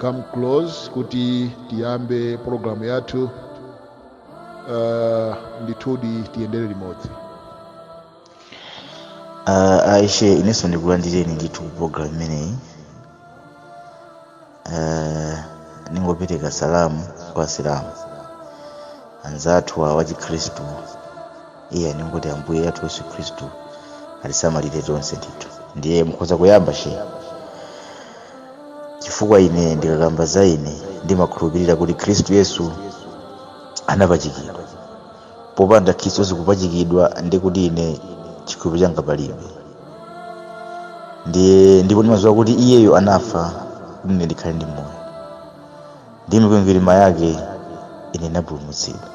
come close kuti tiyambe programu yathu uh, ndithudi tiyendere limodzi uh, aishe inenso ndikulandireni ndithu ku program imeneyi uh, ningopereka salamu kwa asilamu anzathu awa achikhristu ine ndingoti ambuye athu yesu khristu atisamalire tonse ndithu ndiye mukhoza kuyamba she chifukwa ine ndikakamba za ine ndimakhulupirira kuti khristu yesu anapachikidwa popanda khristu yesu kupachikidwa ndi kuti ine chikhulupiriro changa palibe ndiye ndipo ndimadziwa kuti iyeyo anafa kuti ine ndikhale ndi moyo ndi mikwingwirima yake ine ndinapulumutsidwa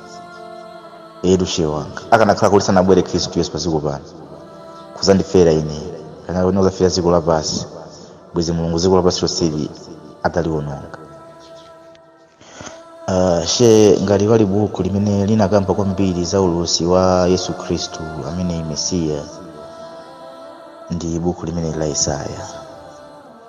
etu she wanga akanakhala kuti sanabwere khristu yesu padziko pano kuzandifera ine kana kuti kuzafera dziko lapansi bwezi mulungu dziko lapansi lonseli ataliwononga Uh, she ngati pali buku limene linakamba kwambiri za ulosi wa yesu khristu amene ali mesiya ndi buku limene la yesaya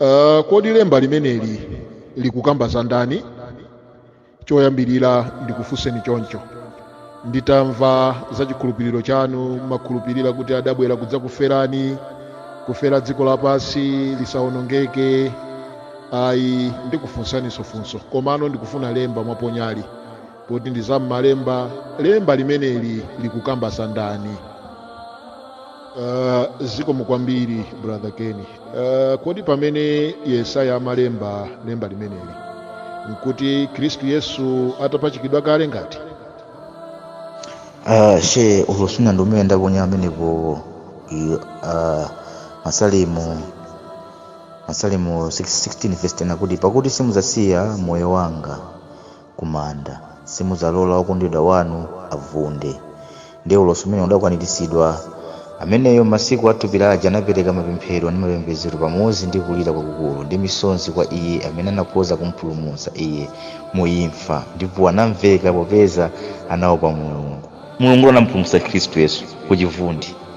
uh, kodi lemba limeneli likukamba za ndani choyambirira ndikufunseni choncho nditamva za chikhulupiriro chanu mumakhulupirira kuti adabwera kudzakuferani kufera dziko lapansi lisawonongeke ayi ndikufunsaniso funso komano ndikufuna lemba mwaponyali poti ndi za m'malemba lemba limeneli likukamba za ndani uh, zikomo kwambiri brother keni uh, kodi pamene yesaya amalemba lemba limeneli nkuti khristu yesu atapachikidwa kale ngati Ah, she ulosi wina ndi umene ndaponya amenepo i- ah, masalimo masalimo 16 verse 10 akuti pakuti simuzasiya moyo wanga kumanda. Simudzalola wokondedwa wanu avunde. Ndiye ulosi umenewo udakwaniritsidwa. Ameneyo m'masiku a thupi lache anapereka mapemphero ndi mapembedzero pamodzi ndi kulira kwakukulu ndi misozi kwa iye amene anakhoza kumpulumutsa iye mu imfa, ndipo anamveka popeza anaopa Mulungu. Mulungu anampulumutsa Khristu Yesu ku chivundi.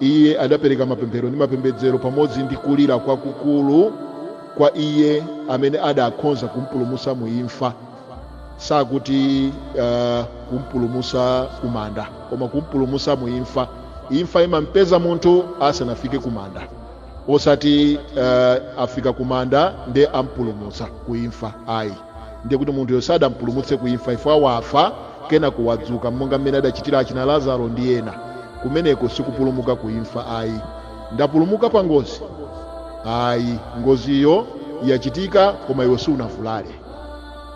iye adapereka mapemphero ndi mapembedzero pamodzi ndi kulira kwakukulu kwa iye amene adakhonza kumpulumusa mu imfa sakuti uh, kumpulumusa kumanda koma kumpulumusa mu imfa imfa imampeza munthu asanafike kumanda osati uh, afika kumanda nde ampulumusa ku imfa ayi ndiye kuti munthuyo sadampulumutse ku imfa ngati wafa kenaka kuwadzuka monga mmene adachitira achina lazaro ndi ena kumeneko sikupulumuka ku imfa ayi ndapulumuka pa ngozi ayi ngoziyo yachitika koma iwe sunavulale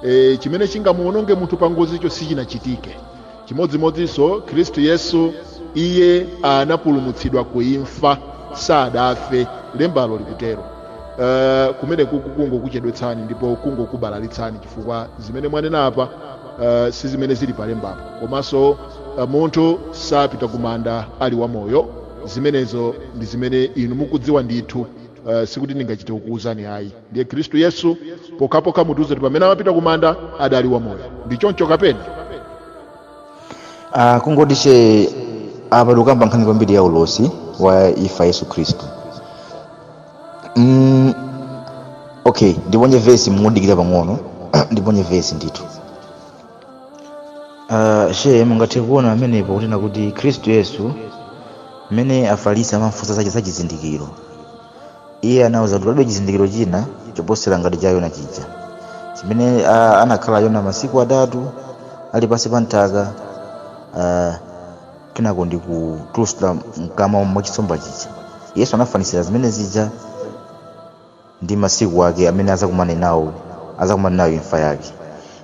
e, chimene chingamuononge munthu pa ngozicho sichinachitike chimodzimodzinso khristu yesu iye anapulumutsidwa ku imfa sadafe lembalo likutero uh, kumeneku kungokuchedwetsani ndipo kungokubalalitsani chifukwa zimene mwanena apa uh, si zimene zili palembapo komanso uh, munthu sapita kumanda ali wamoyo zimenezo ndi zimene inu mukudziwa ndithu uh, sikuti ndingachite kukuwuzani ayi ndiye khristu yesu pokhapokha mutiuze kuti pamene amapita kumanda adali wamoyo ndi choncho kapena Ah, kungoti Shehe apa tikukamba nkhani kwambiri ya ulosi wa imfa yesu khristu mm, okay ndiponye vesi mundidikire pang'ono ndiponye vesi ndithu Ah, Shehe mungathe kuona pamenepo kunena kuti khristu yesu mmene afarisi amamfunsa zache za chizindikiro iye anawauza kuti palibe chizindikiro china choposera ngati cha yona chija chimene ah, anakhala yona masiku atatu ali pansi pa nthaka ah, kenako ndi kutulutsidwa mkamwa mwa chinsomba chija yesu anafanizira zimene zija ndi masiku ake amene azakumane nawo azakumane nayo imfa yake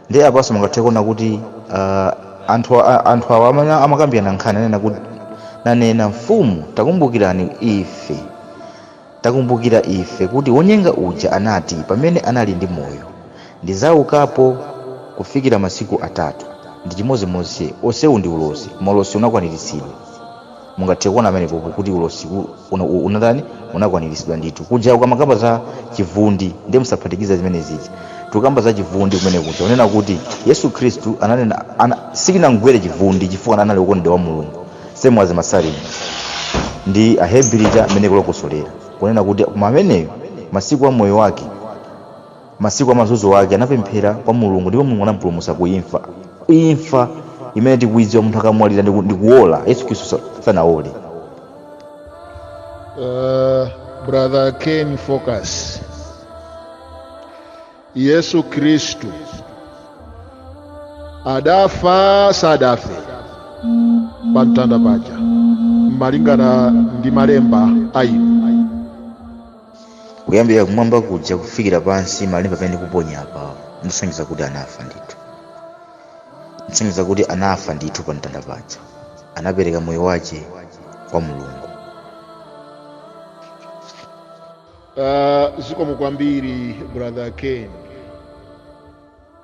ndiye apanso mungathe kuona kuti ah, anthu a- anthu awa amene amakambirana nkhani anena kuti nanena mfumu takumbukirani ife takumbukira ife kuti wonyenga uja anati pamene anali ndi moyo ndidzaukapo kufikira masiku atatu ndi chimodzimodzi onsewu ndi ulosi koma ulosi unakwaniritsidwa mungathe kuona pamenepopo kuti ulosi u- una- u- unatani unakwaniritsidwa ndithu kuja ukamakamba za chivundi ndiye musaphatikize zimene zija tikukamba za chivundi kumene kuja unena kuti yesu khristu ananena ana, sichinamgwere chivundi chifukwa anali wokondedwa wa mulungu same as masalimo ndi ahebri ija imene kulokosolera kunena kuti koma ameneyo masiku a moyo wake Masiku a mazunzo ake anapemphera kwa Mulungu ndipo Mulungu anamupulumutsa ku imfa. Imfa imene tikuidziwa munthu akamwalira ndi ku- ndi kuwola, Yesu Khristu sa- sanawole. Uh, brother Ken focus. Yesu Kristu adafa sadafe pa mtanda paja malingana ndi malemba ayi kuyambira kumwamba kuja kufikira pansi malemba amene ndikuponya apawa ndikusonyeza kuti anafa ndithu ndikusonyeza kuti anafa ndithu pa mtanda paja anapereka moyo wace kwa mulungu Uh, zikomo kwambiri brother ken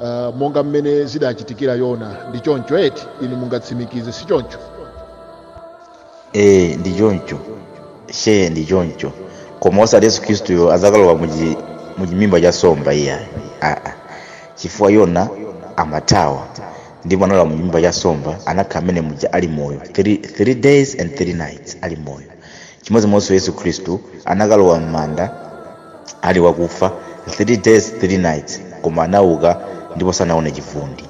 uh, monga mmene zidachitikira yona ndi choncho eti inu mungatsimikize si choncho ee ndi choncho shee ndi choncho koma osati yesu khristuyo adzakalowa muchi- muchimimba cha somba iyayi aa chifukwa yona amathawa ndipo analowa muchimimba cha somba anakhala mmene muja ali moyo 3 days and 3 nights ali moyo chimodzimodzinso yesu khristu anakalowa m'manda ali wakufa 3 days 3 nights koma anauka ndipo sanaone chivundi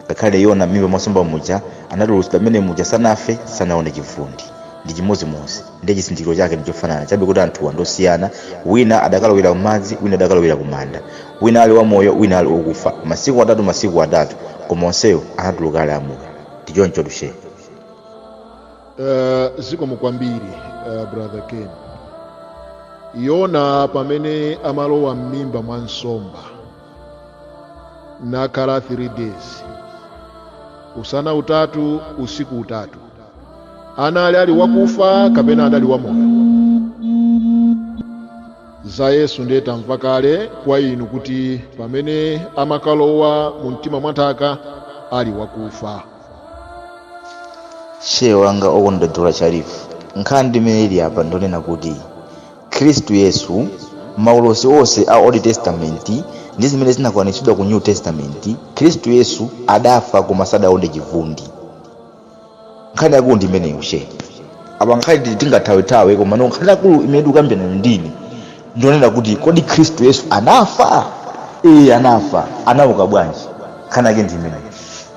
ngakhale yona m'mimba mwa nsomba muja anatulutsidwa mmene muja sanafe sanaone chivundi ndi chimodzimodzi ndi chizindikiro chake ndi chofanana chabe kuti anthuwa ndosiyana wina adakalowera kumadzi wina adakalowera kumanda wina ali wamoyo wina ali okufa masiku atatu masiku atatu koma onsewo anatuluka ali amoyo ndi choncho tu she Uh, zikomo kwambiri uh, brother ken yona pamene amalowa m'mimba mwa nsomba nakhala 3 days usana utatu usiku utatu anali ali wakufa kapena adali wamoyo za yesu ndiye tamva kale kwa inu kuti pamene amakalowa mu mtima mwa nthaka ali wakufa shehe wanga okondedwa sharifu nkhani imene ili apa ndonena kuti khristu yesu maulosi onse a old testament ndi zimene zinakwaniritsidwa ku new testament khristu yesu adafa koma sadaone chivundi nkhani yakulu ndi imeneyo shehe apa nkhani tingathawethawe koma no nkhani yakulu imene tikukambirana ndi inu ndonena kuti kodi khristu yesu anafa ee anafa anauka bwanji nkhani yake ndi imeneyo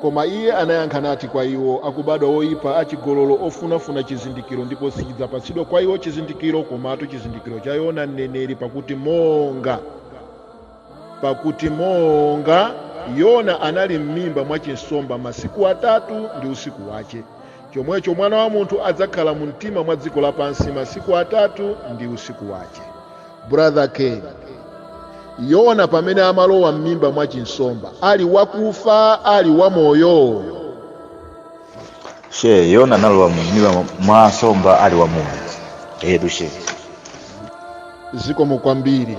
Koma Iye anayankha nati kwa iwo, Akubadwa oipa, acigololo, ofunafuna cizindikilo, ndipo sicidzapatsidwa kwa iwo cizindikilo, komatu cizindikilo ca Yona mneneri, pakuti monga pakuti monga Yona anali m'mimba mwa cinsomba masiku atatu ndi usiku wace, Chomwecho Mwana wa Munthu adzakhala mu mtima mwa dziko lapansi masiku atatu ndi usiku wache. Brother Ken, Yona pamene amalowa m'mimba mwa chinsomba ali wakufa ali wamoyo? She, Yona analowa mu mimba mwa nsomba ali wamoyo. Eetu she. Zikomo kwambiri.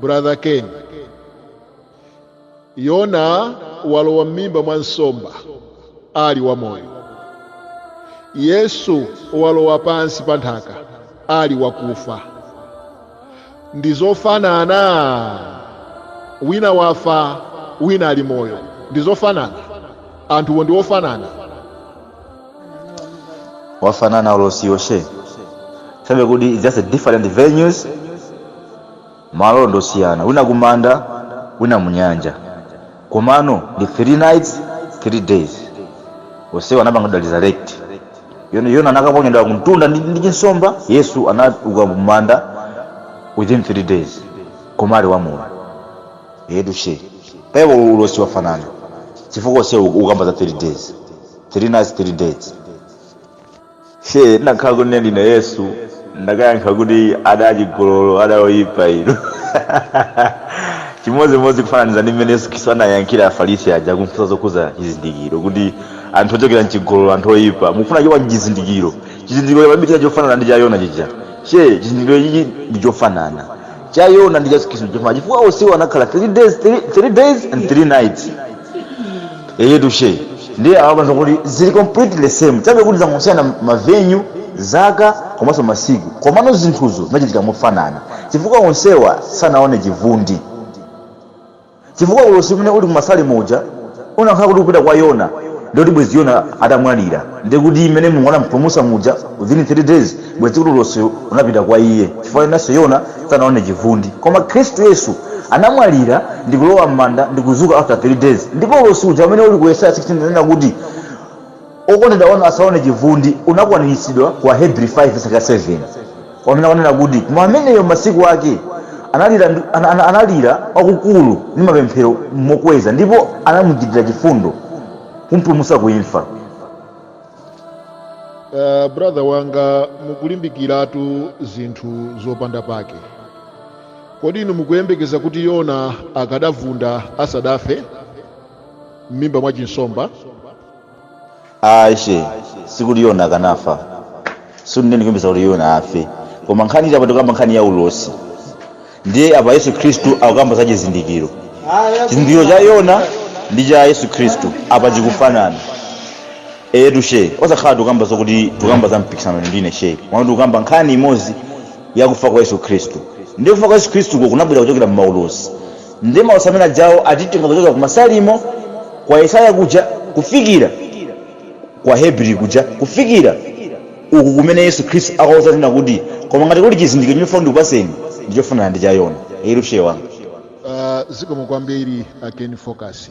brother ken yona walowa m'mimba mwa nsomba ali wamoyo yesu walowa pansi pa nthaka ali wakufa ndi zofanana wina wafa wina ali moyo ndi zofanana anthuwo ndi ofanana wafanana ulosiwo she chabe kuti it's just a different venues malo ndosiyana wina kumanda wina munyanja komano ndi three nights three days onsewa anapanga resurrect yona yona anakaponyedwa kumtunda ndi ndi chinsomba yesu anauka kumanda within three days koma ali wamoyo etu she paiwo ulosi wafanana chifukwa onsewa ukamba za three days three nights three days she ndakhala kuti ndine yesu ndakayankha kuti ada achigololo ada oyipa inu chimodzimodzi kufananiza ndi mmene yesu khristu anayankhira afarisi aja kumfunsa zokhuza chizindikiro kuti anthu ochokera mchigololo anthu oyipa mufuna chowa chizindikiro chizindikiro chapabitiza chofanana ndi cha yona chija she chizindikiro chichi ndi chofanana cha yona ndi cha khristu chifukwa chifukwa onsewo anakhala 3 days 3 days and 3 nights eyetu she ndiye awapanza kuti zili completely same chabe kuti zangosiyana ma venue zaka komanso masiku komano zinthuzo zinachitika mofanana chifukwa onsewa sanaone chivundi chifukwa ulosi umene uli ku Masalimo uja unakhala kuti ukupita kwa Yona ndiye kuti bwezi Yona atamwalira ndiye kuti mmene Mulungu anampulumutsa muja within 3 days bwezi kuti ulosiwo unapita kwa iye chifukwa nayenso Yona sanaone chivundi koma Khristu Yesu anamwalira ndikulowa mmanda ndikuzuka after 3 days ndipo ulosi uja umene uli ku Yesaya 16 unanena kuti Okondedwa wanu asaone chivundi unakwaniritsidwa ku Ahebri 5 tsaka 7, pamene akunena kuti, Koma ameneyo m'masiku ake analira ndi, an, an, analira kwakukulu ndi mapemphero mokweza, ndipo anamuchitira chifundo, kumpulumutsa ku imfa. Uh, brother wanga mukulimbikiratu zinthu zopanda pake kodi inu mukuyembekeza kuti yona akadavunda asadafe m'mimba mwa chinsomba Ayi she, sikuti Yona akanafa. Sikuti ine ndikuyembekeza kuti Yona afe. Koma nkhani ili apa tikukamba nkhani ya ulosi. Ndiye apa Yesu Khristu akukamba za chizindikiro. Chizindikiro cha Yona ndi cha Yesu Khristu apa chikufanana. Etu she, osakhala tikukamba zokuti tikukamba za mpikisano ine ndi inu she. Komano tikukamba nkhani imodzi ya kufa kwa Yesu Khristu. Ndiye kufa kwa Yesu Khristuko kunabwera kuchokera m'maulosi. Ndiye maulosi amene ajawo atitenga kuchokera ku Masalimo, kwa Yesaya kuja, kufikira ku Ahebri kuja, kufikira uku kumene Yesu Khristu akauzanena kuti, Koma ngati kuli chizindikiro chimene ndifuna ndikupatseni, ndi chofanana ndi cha Yona. Eee Sheikh wanga. Uh, zikomo kwambiri a Ken Focus.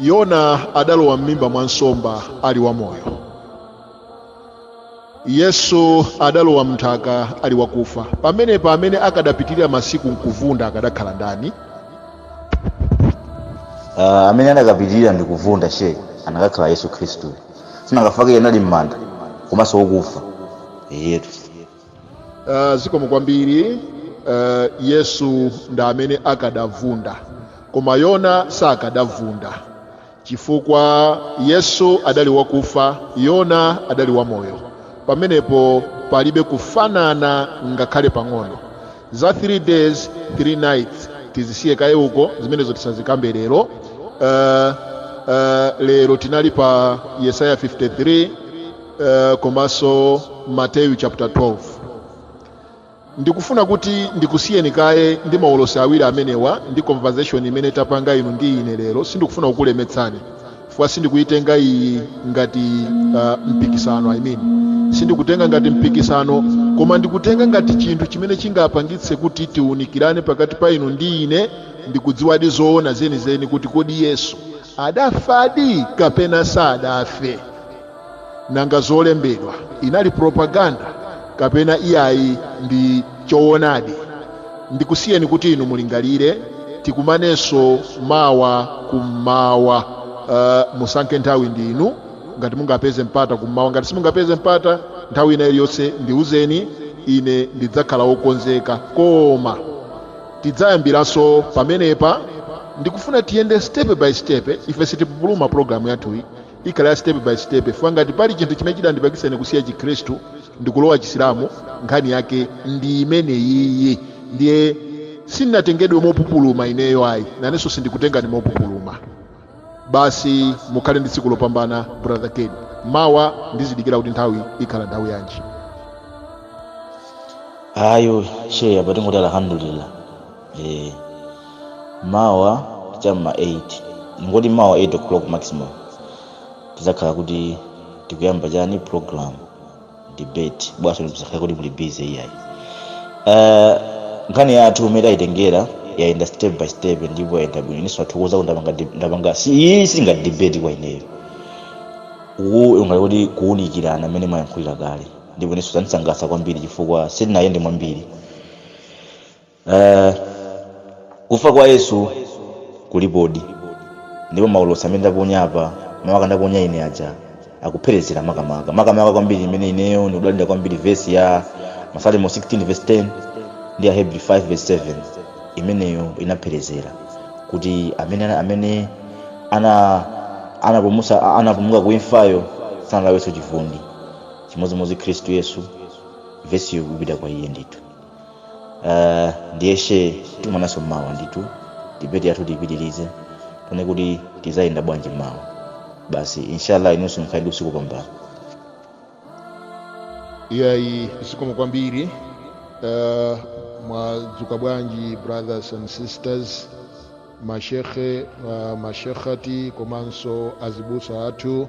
yona adalowa m'mimba mwa nsomba ali wamoyo yesu adalowa mnthaka ali wakufa pamenepa amene akadapitirira masiku nkuvunda akadakhala ndani uh, amene anakapitirira ndi kuvunda Sheikh anakakhala yesu khristu si anakafa kale anali m'manda komanso wokufa iyetu Uh, zikomo kwambiri uh, yesu ndi amene akadavunda koma yona sakadavunda chifukwa yesu adali wakufa yona adali wamoyo pamenepo palibe kufanana ngakhale pang'ono za 3 days 3 nights tizisiye kaye uko zimenezo tisazikambe lero uh, uh, lero tinali pa yesaya 53 eh, komanso mateyu chapter 12 ndikufuna kuti ndikusiyeni kaye ndi maulosi awiri amenewa ndi conversation imene tapanga inu ndi ine lero sindikufuna kukulemetsani chifukwa sindikuitenga iyi ngati uh, mpikisano I mean. sindikutenga ngati mpikisano koma ndikutenga ngati chinthu chimene chingapangitse kuti tiunikirane pakati pa inu ndi ine ndikudziwadi zoona zenizeni kuti kodi yesu adafadi kapena sadafe nanga zolembedwa inali propaganda kapena iyayi ndi choonadi ndikusiyeni kuti inu mulingalire tikumanenso mawa kummawa uh, musankhe nthawi ndinu ngati mungapeze mpata kummawa ngati simungapeze mpata nthawi ina iliyonse ndiuzeni ine ndidzakhala wokonzeka koma tidzayambiranso pamenepa ndikufuna tiyende step by step ife sitipupuluma programu yathuyi ikhala ya step by step chifukwa ngati pali chinthu chimene chidandipangitsa ine kusiya chikhristu ndikulowa chisilamu nkhani yake ndi imeneyiyi ndiye sinatengedwe mopupuluma ineyo ayi nanenso sindikutengani mopupuluma basi mukhale ndi tsiku lopambana brother ken mawa ndizidikira kuti nthawi ikhala nthawi yanji ayo Sheikh apa tingoti alhamdulillah eh mawa cha ma 8 tingoti mawa 8 o'clock maximum tizakhala kuti tikuyamba chani program debate bwanso mzakhala kuti muli busy iyayi uh, nkhani yathu mmene tayitengera yayenda step by step ndipo yayenda bwino inenso ndathokoza kuti ndapanga deb- ndapanga si iyi singati debate kwa ineyo uwu ungali kuti kuwunikirana mmene mwayankhulira kale ndipo inenso zandisangalatsa kwambiri chifukwa sitinayende mwambiri Eh, kufa kwa yesu kulipodi ndipo maulosi amene ndaponya apa makamaka ndaponya ine aja akupherezera makamaka makamaka kwambiri imene ineyo ndikudalira kwambiri vesi ya masalimo 16 vesi 10 ndi ya ahebri 5 vesi 7 imeneyo inapherezera kuti amene amene ana anapulumusa anapulumuka ku imfayo sanalawenso chivundi chimodzimodzi khristu yesu vesiyo ikupita kwa iye ndithu uh, ndiye shehe tionananso mmawa ndithu debate yathu tipitirize tione kuti tizayenda bwanji mmawa basi inshallah inunso mukhale usiku wopambana iyayi zikomo kwambiri uh, mwadzuka bwanji brothers and sisters mashekhe uh, mashekhati komanso azibusa athu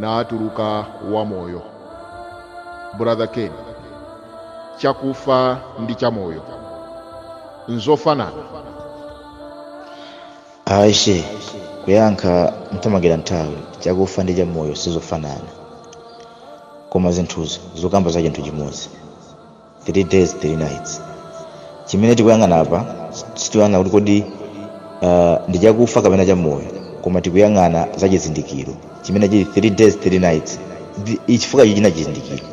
naatuluka wamoyo brother ken chakufa ndi chamoyo nzofanana a shehe kuyankha nthamangira nthawi chakufa ndi chamoyo sizofanana koma zinthuzo zikukamba za chinthu chimodzi three days three nights chimene tikuyang'ana apa sitikuyang'ana kuti kodi uh, ndi chakufa kapena chamoyo koma tikuyang'ana za chizindikiro chimene chili three days three nights Ndi- chifukwa ichi china chizindikiro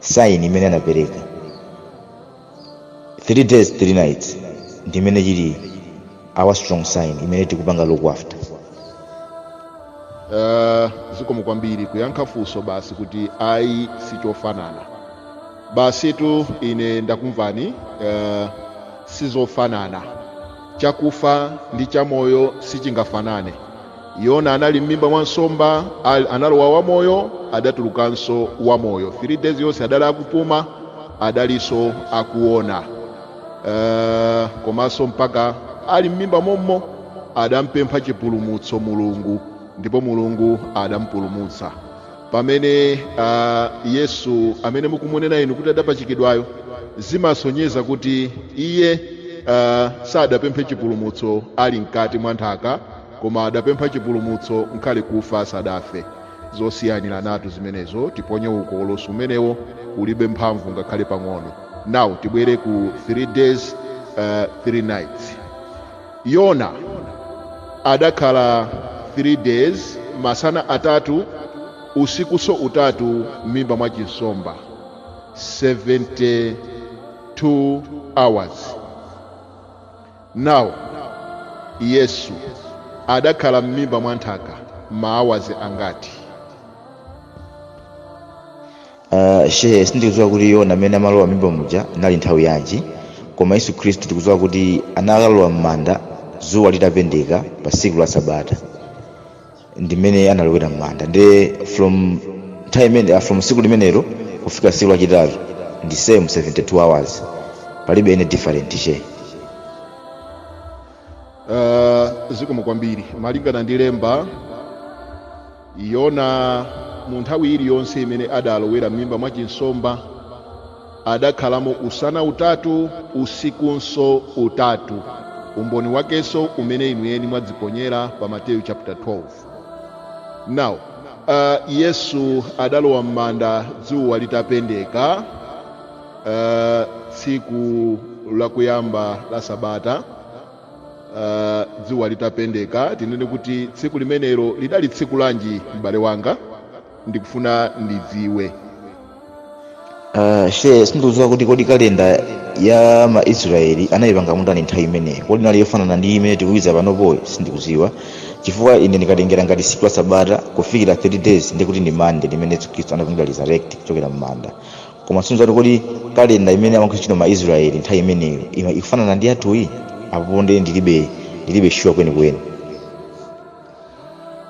saini imene anapereka three days three nights ndi imene chili our strong sign imene tikupanga look after uh, zikomo kwambiri kuyankha funso basi kuti ayi sichofanana basitu ine ndakumvani uh, sizofanana chakufa ndi chamoyo sichingafanane yona anali m'mimba mwa nsomba al- analowa wamoyo adatulukanso wamoyo 3 days yonse adali akupuma adalinso akuona uh, komanso mpaka ali m'mimba mommo adampempha chipulumutso mulungu ndipo mulungu adampulumutsa pamene a yesu amene mukumunena inu kuti adapachikidwayo zimasonyeza kuti iye a, sadapemphe chipulumutso ali mkati mwa nthaka koma adapempha chipulumutso ngakhale kufa asadafe zosiyaniranatu zimenezo tiponye uko ulosi umenewo ulibe mphamvu ngakhale pang'ono now tibwere ku 3 days uh, 3 nights Yona adakhala 3 days masana atatu usikuso utatu m'mimba mwa chinsomba 72 hours now yesu adakhala m'mimba mwa nthaka maawazi angati Uh, shehe sindikudziwa kuti yona amene amalowa m'mimba muja inali nthawi yanji koma yesu khristu tikudziwa kuti anakalowa m'manda dzuwa litapendeka pa tsiku la sabata ndimene analowera m'manda nde from time imene, uh, from tsiku limenelo kufika tsiku lachitatu ndi same 72 hours palibe any different shehe uh, zikomo kwambiri malingana ndi lemba Yona mu nthawi iliyonse imene adalowera m'mimba mwa chinsomba adakhalamo usana utatu usikunso utatu. Umboni wakenso umene inu eni mwadziponyera pa Mateyu chapter 12. Now, uh, Yesu adalowa m'manda dzuwa litapendeka uh, tsiku lakuyamba la sabata Ah, dzuwa litapendeka tinene kuti tsiku limenelo lidali tsiku lanji m'bale wanga ndikufuna ndidziwe Uh, shehe sindikudziwa kuti kodi kalenda ya maisraeli anayipanga mutani nthawi imeneyo kodi inali yofanana ndi imene tikuiza panopoyi, sindikudziwa chifukwa ine ndikatengera ngati tsiku la sabata kufikira 3 days ndikuti ndi Monday limene yesu khristu anapanga resurrect kuchokera m'manda koma sindikudziwa kuti kodi kalenda imene amagwiritsa ntchito ma israel nthawi imeneyo ima- ikufanana ndi yathuyi apopo nde ndilibe ndilibe sure kwenikweni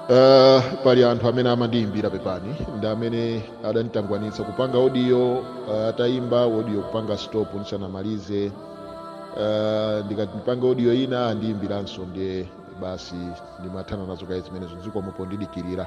Uh, pali anthu amene amandiyimbira pepani ndi amene adanditangwanitsa kupanga audio uh, atayimba audio kupanga stop ndisanamalize uh, ndikati ndipanga audio ina andiyimbiranso ndiye basi ndimathana nazo kaye zimenezo zikomo pondidikirira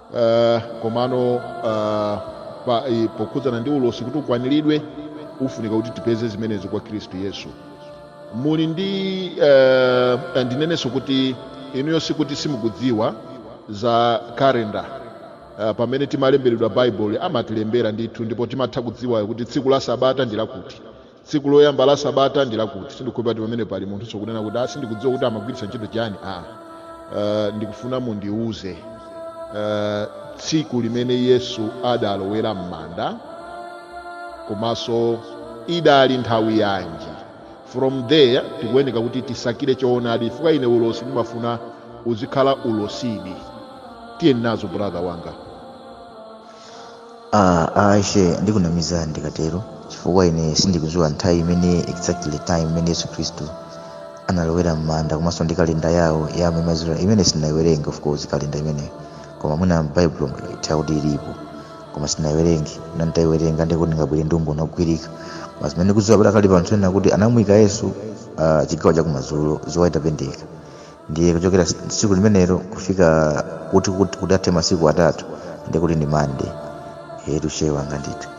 uh, komano uh, pa, eh, pokhudzana ndi ulosi kuti ukwaniridwe ufunika kuti tipeze zimenezo kwa khristu yesu muli ndi uh, ndinenenso kuti inuyo sikuti simukudziwa za kalenda uh, pamene timalemberedwa bible amatilembera ndithu ndipo timatha kudziwa kuti tsiku la sabata ndi lakuti tsiku loyamba la sabata ndi lakuti sindikukhulupirira kuti pamene pali munthunso kunena kuti "Ah, sindikudziwa kuti amagwiritsa ntchito chani aa uh, ndikufuna mundiuze uh, tsiku limene yesu adalowera m'manda komanso idali nthawi yanji from there tikuyeneka kuti tisakire choonadi chifukwa ine ulosi ndimafuna uzikhala ulosidi tiye nazo brother wanga Ah, ah, shehe ndikunamizani ndikatero chifukwa ine sindikudziwa nthawi imene exactly time imene yesu khristu analowera m'manda komanso ndi kalenda yawo ya amene mazira imene sindinayiwerenge of course kalenda imeneyo koma mwina m'baibulo muno itha kuti ilipo koma sindinayiwerenge na nditayiwerenga ndikuti ndingabwere ndi umboni wogwirika koma zimene ndikudziwa padakali pano n'kunena kuti anamuyika yesu ah, chigawo chakumadzulo dzuwa litapendeka ndiye kuchokera tsiku limenelo kufika kuti kuti athe masiku atatu ndiye kuti ndi mande yetu shehe wanga ndithu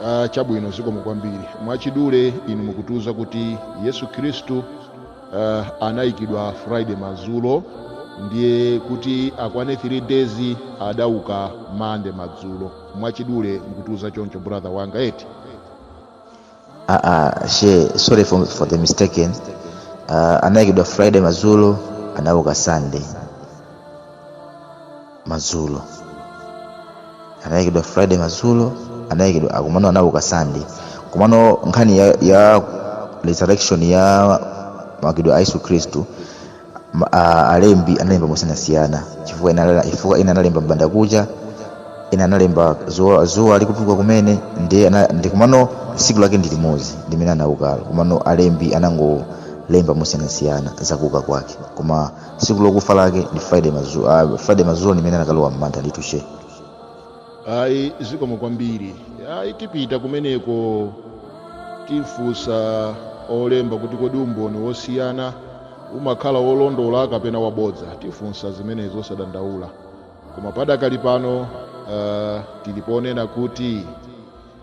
Ah, chabwino zikomo kwambiri mwachidule inu mukutiuza kuti yesu khristu ah, anayikidwa friday madzulo ndiye kuti akwane 3 days adauka mande madzulo mwachidule mukutiuza choncho brother wanga eti Ah, ah, she sorry for, for the mistaken uh, anayikidwa friday madzulo anauka sunday madzulo anayikidwa friday madzulo anayikidwa ah, kumanda anauka sunday komano nkhani ya, ya resurrection ya maukidwe a yesu khristu Ma- a- alembi analemba mosiyanasiyana chifukwa ena anala- chifukwa ena analemba mbanda kucha ena analemba dzuwa dzuwa likutuluka kumene ndi ana- ndi komano tsiku lake ndi limodzi limene anaukalo komano alembi anangolemba mosiyanasiyana zakuuka kwake koma tsiku lokufa lake ndi friday madzulo friday madzulo limene anakalowa mmanda ndithu she ayi zikomo kwambiri ayi tipita kumeneko tifunsa olemba kuti kodi umboni wosiyana umakhala wolondola kapena wabodza tifunsa zimenezo osadandaula koma padakali pano uh, tili ponena kuti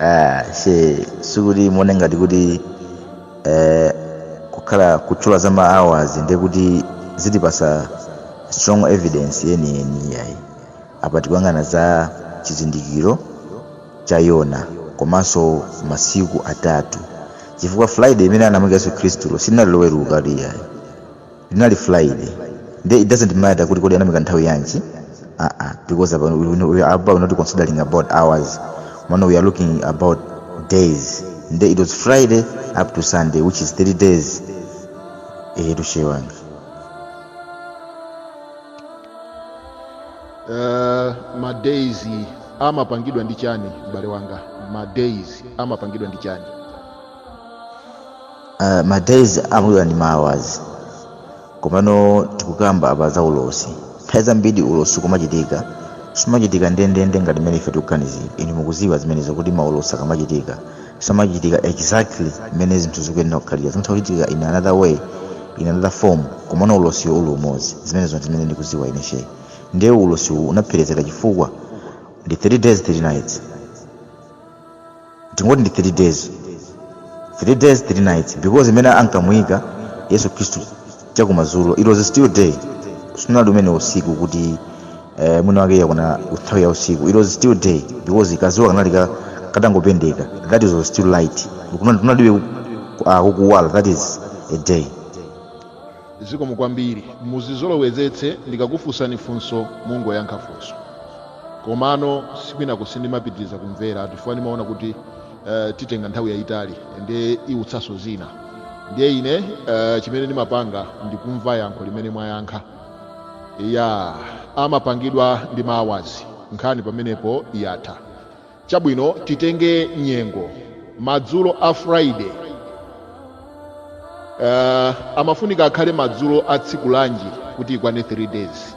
Ah, she sikuti muone ngati kuti eh, kukhala kutchula za ma hours ndiye kuti zitipasa strong evidence yeniyeni iyayi apa tikuyang'ana za chizindikiro cha yona komanso masiku atatu chifukwa friday imene anamwalira yesu khristulo sinali loweruka iyayi linali friday nde it doesn't matter kuti kodi anamuika nthawi yanji aa because apa we, we, we are about not considering about hours mano we are looking about days nde it was friday up to sunday which is 3 days ehetu she wanga uh, madays amapangidwa ndi chani m'bale wanga madays amapangidwa ndi chani uh, ma days amapangidwa ndi ma hours komano tikukamba apa za ulosi nthawi zambiri ulosi ukamachitika sumachitika ndendende ngati mmene ife tikuganizira inu mukudziwa zimenezo kuti maulosi akamachitika samachitika exactly mmene zinthu zikuyenera kukhalira zimatha kuchitika in another way in another form komano ulosiwo uli umodzi zimenezo ndi zimene ndikudziwa ine shehe ndiye ulosiwu unapherezera chifukwa ndi 3 days 3 nights tingoti ndi 3 days 3 days 3 nights because mmene ankamuyika yesu khristu chakumadzulo it was still day sinali umene usiku kuti eh, mwina wake yakuna nthawi ya usiku it was still day because kazuwa kanali ka- katangopendeka that is was still light Kunali- kunalibe ku- ku- ah, kukuwala that is a day zikomo kwambiri muzizolowezetse ndikakufunsani funso mungoyankha funso komano uko kwinako sindimapitiriza kumvera chifukwa ndimaona kuti eh, itenga nthawi yayitali ndiye iwutsanso zina ndiye ine eh, chimene ndimapanga ndikumva yankho limene mwayankha ya amapangidwa ndi ma hours nkhani pamenepo yatha chabwino titenge nyengo madzulo a friday uh, amafunika akhale madzulo a tsiku lanji kuti ikwane 3 days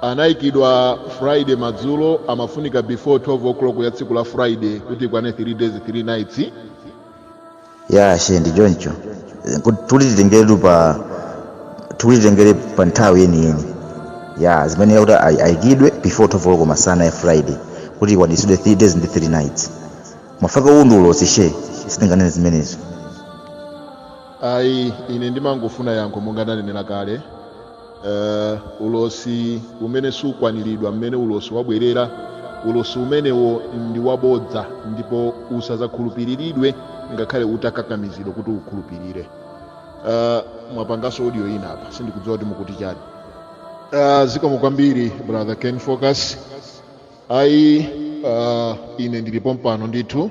Anaikidwa Friday madzulo amafunika before 12 o'clock ya tsiku la Friday kuti ikwane 3 days 3 nights. ya shehe ndi choncho kuti tulititengere pa tulititengere pa nthawi yeniyeni ya zimene akuti ai- aikidwe before 12 o'clock masana ya friday kuti ikwanitsidwe 3 days ndi 3 nights mafaka uwu ndi ulosi shehe sitinganene zimenezo Ayi ine ndimangofuna yankho monga ndanenera kale. eh, ulosi umene sukwaniridwa mmene ulosi wabwerera ulosi umenewo ndi wabodza ndipo usazakhulupiriridwe ngakhale utakakamizidwa kuti ukhulupirire uh, mwapangaso audio ina apa sindikudziwa kuti mukuti chani uh, zikomo kwambiri brother ken focus ayi uh, ine ndili pompano ndithu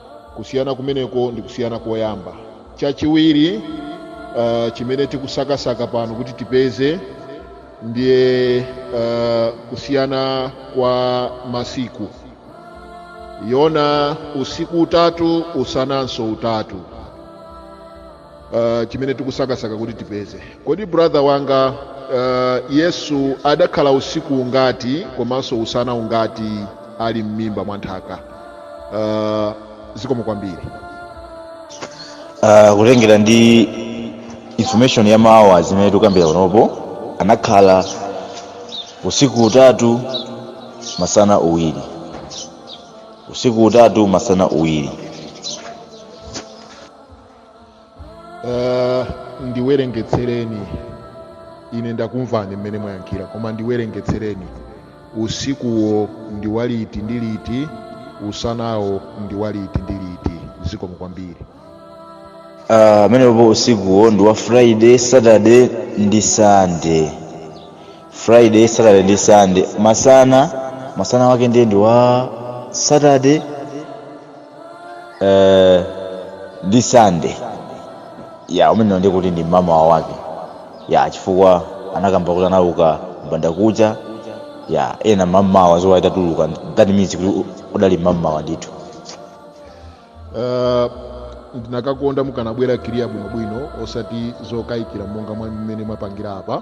kusiyana kumeneko ndi kusiyana koyamba chachiwiri uh, chimene tikusakasaka pano kuti tipeze ndiye uh, kusiyana kwa masiku yona usiku utatu usananso utatu uh, chimene tikusakasaka kuti tipeze kodi brother wanga uh, yesu adakhala usiku ungati komanso usana ungati ali m'mimba mwa nthaka uh, zikomo kwambiri uh, kutengera ndi information ya ma hours imene tikukambira panopo anakhala usiku utatu masana uwiri usiku utatu masana uwiri uh, ndiwerengetsereni ine ndakumvani mmene mwayankhira koma ndiwerengetsereni usikuwo ndi waliti ndi liti usanawo ndi waliti ndi liti zikomo kwambiri Ah, amenepo usikuwo ndi wa friday saturday ndi sunday friday saturday ndi sunday masana masana wake ndiye ndi wa saturday eh, ndi sande ya umenewo ndiye kuti ndi mmamawa wake ya chifukwa anakamba kuti anauka mbandakucha ya ena mmamawa dzuwa litatuluka that means kuti u- udali mmamawa ndithu Ah, ndinakakonda mukanabwera kiriya bwinobwino osati zokayikira monga mwa mmene mwapangira apa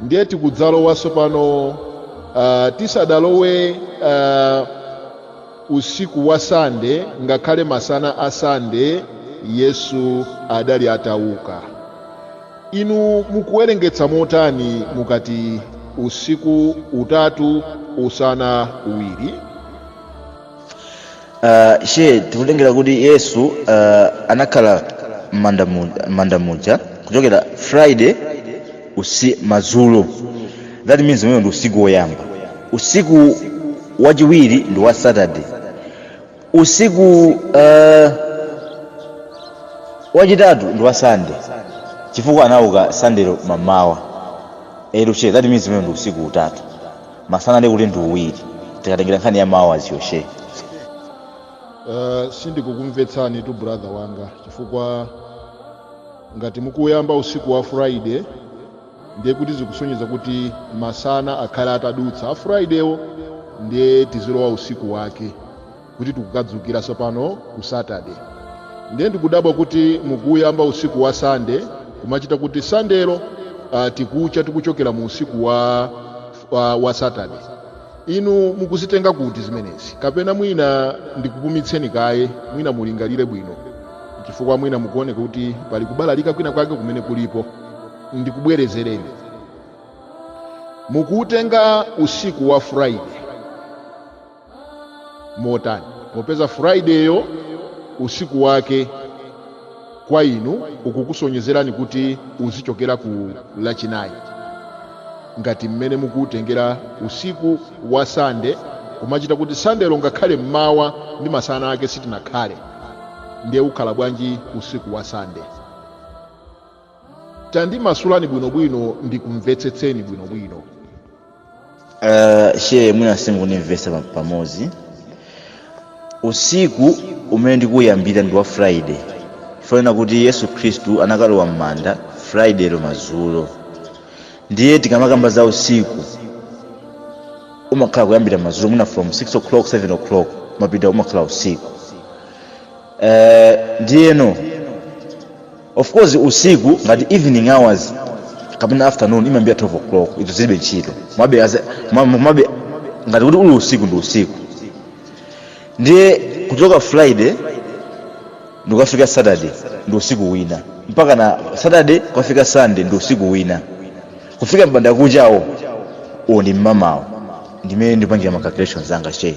ndiye tikudzalowa tsopano uh, tisadalowe uh, usiku wa sande ngakhale masana a sande yesu adali atauka inu mukuwerengetsa motani mukati usiku utatu usana uwiri uh, shehe tikutengera kuti yesu uh, anakhala m'manda mu- m'manda muja kuchokera friday usi madzulo that means umenewo ndi usiku woyamba usiku wachiwiri ndi wa saturday usiku uh, wachitatu ndi wa sunday chifukwa anauka sandelo mmamawa eruche that means umenewo ndi usiku utatu masana ndi kuti ndi uwiri tikatengera nkhani ya mmawa aziyoshe uh, sindikukumvetsanitu brother wanga chifukwa ngati mukuyamba usiku wa friday ndiye kuti zikusonyeza kuti masana akhala atadutsa a fridaywo ndiye tizilowa usiku wake kuti tikukadzukira tsopano ku saturday ndiye ndikudabwa kuti mukuyamba usiku wa sande kumachita kuti sandelo uh, tikucha tikuchokera mu usiku wa, wa, wa saturday inu mukuzitenga kuti zimenezi kapena mwina ndikupumitseni kaye mwina mulingalire bwino chifukwa mwina mukuoneka kuti pali kubalalika kwina kwake kumene kulipo ndikubwerezereni mukuutenga usiku wa friday motani popeza fridayyo usiku wake kwa inu ukukusonyezerani kuti uzichokera ku lachinayi ngati mmene mukuutengera usiku wa sande kumachita kuti sandelo ngakhale mmawa ndi masana ake sitinakhale ndiye ukhala bwanji usiku wa sande tandimasulani bwinobwino ndikumvetsetseni bwinobwino Uh, she mwina simukundimvetsa pa- pamodzi usiku umene ndikuyambira ndi wa friday chifukwa chonena kuti yesu khristu anakalowa m'manda friday lo madzulo ndiye tikamakamba za usiku umakhala kuyambira madzulo mwina from 6 o'clock 7 o'clock kumapita umakhala usiku Eh, ndiyeno of course usiku ngati evening hours kapena afternoon imayambira 12 o'clock izo zilibe ntchito komabe ngati kuti uli usiku ndi usiku ndiye kuchoka friday ndi kukafika saturday ndi usiku wina mpaka na saturday kukafika sunday ndi usiku wina kufika mbandakuchawo uwo ndi mmamawo ndi mmene ndipangira ma calculations anga she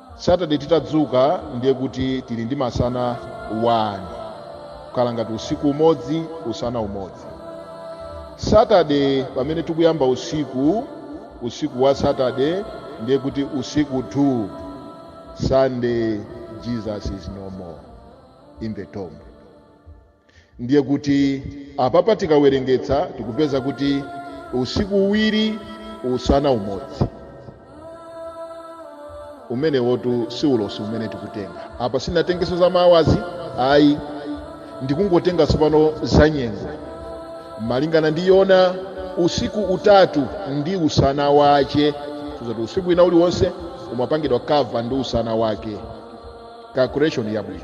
Saturday titadzuka ndiye kuti tili ndi masana 1 kukhala ngati usiku umodzi usana umodzi Saturday pamene tikuyamba usiku usiku wa Saturday ndiye kuti usiku 2 Sunday Jesus is no more in the tomb ndiye kuti apapa tikawerengetsa tikupeza kuti usiku uwiri usana umodzi umenewotu si ulosi umene tikutenga apa sinatengeso za ma hours ayi ndikungotenga tsopano za nyengo malingana ndi yona usiku utatu ndi usana wache kusonyeza kuti usiku wina uliwonse umapangidwa cover ndi usana wake calculation yabwino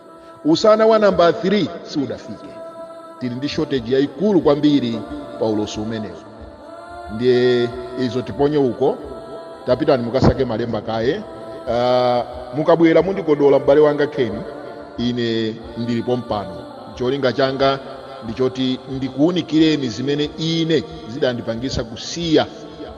Usana wa nambala 3 siudafike. Tili ndi shortage yaikulu kwambiri pa ulosi umenewu, ndiye izo tiponye uko. Tapitani mukasake malemba kaye. Ah, mukabwera mundikodola m'bale wanga Ken, ine ndili pompano. Cholinga changa ndi choti ndikuwunikireni zimene ine zidandipangitsa kusiya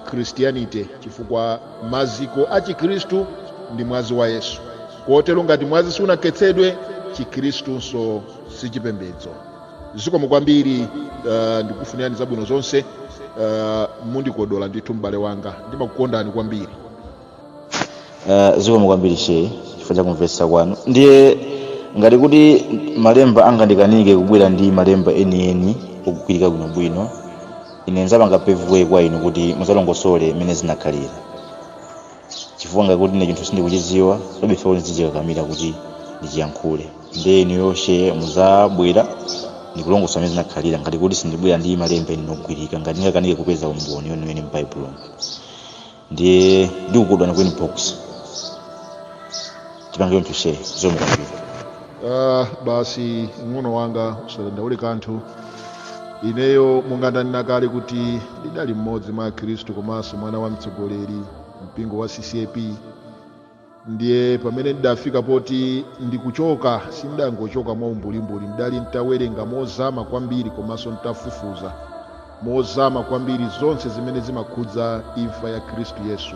Christianity, chifukwa maziko a Chikristu ndi mwazi wa Yesu. kotero ngati mwazi sunakhetsedwe chikhristunso si chipembedzo zikomo kwambiri uh, ndikufunirani zabwino zonse uh, mundikodola ndithu m'bale wanga ndimakukondani kwambiri uh, zikomo kwambiri she chifukwa cha kumvetsa kwanu ndiye ngati kuti malemba angandikanike kubwera ndi malemba enieni okugwirika bwinobwino ine nzapanga pave way kwa inu kuti muzalongosole mmene zinakhalira chifukwa ngati kuti ine chinthu sindikuchidziwa palibe chifukwa kuti ndizichikakamira kuti ndichiyankhule ndiye inuyo she muzabwera ndi kulongosola mmene zinakhalira ngati kuti sindibwera ndi malemba enieni ogwirika ngati ndingakanike kupeza umboni weniweni m'baibulomo ndiye ndikukodolani ku inbox tipange choncho share zomwe kwambiri Ah, basi mng'ono wanga usadandaule kanthu ineyo monga ndanena kale kuti ndidali mmodzi mwa akhristu komanso mwana wa mtsogoleri wa mpingo wa ccap ndiye pamene ndidafika poti ndikuchoka sindidangochoka mwa umbulimbuli ndidali nditawerenga mozama kwambiri komanso nditafufuza mozama kwambiri zonse zimene zimakhudza imfa ya khristu yesu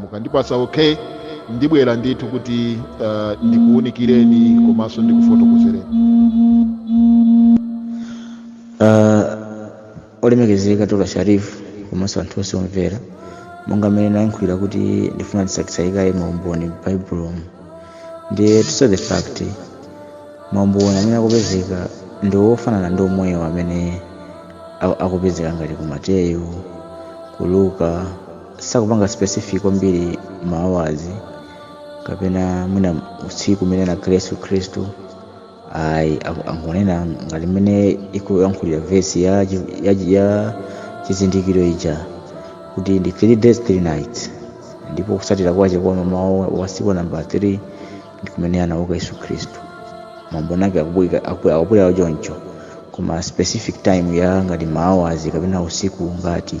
mukandipatsa OK ndibwera ndithu kuti uh, ndikuunikireni komanso ndikufotokozereni Ah, olemekezeka tola sharifu komanso anthu onse omvera monga mmene nayankhulira kuti ndifuna ndisakisayikaye maumboni m'baibulomu ndiye to say the fact maumboni amene akupezeka ndi ofanana ndi omwewo amene a- akupezeka ngati ku mateyu ku luka sakupanga specific kwambiri maawazi kapena mwina usiku umene anakhala yesu khristu ayi aku- angonena ngati mmene ikuyankhulira vesi ya, chi- ya, chi- ya chizindikiro ija kuti ndi three days three nights ndipo kusatira kwache kwa mmawa wa siku namba 3 ndi kumene anauka yesu khristu maumboni ake akubwika- aku- akubwera choncho koma specific time ya ngati maawazi kapena usiku ngati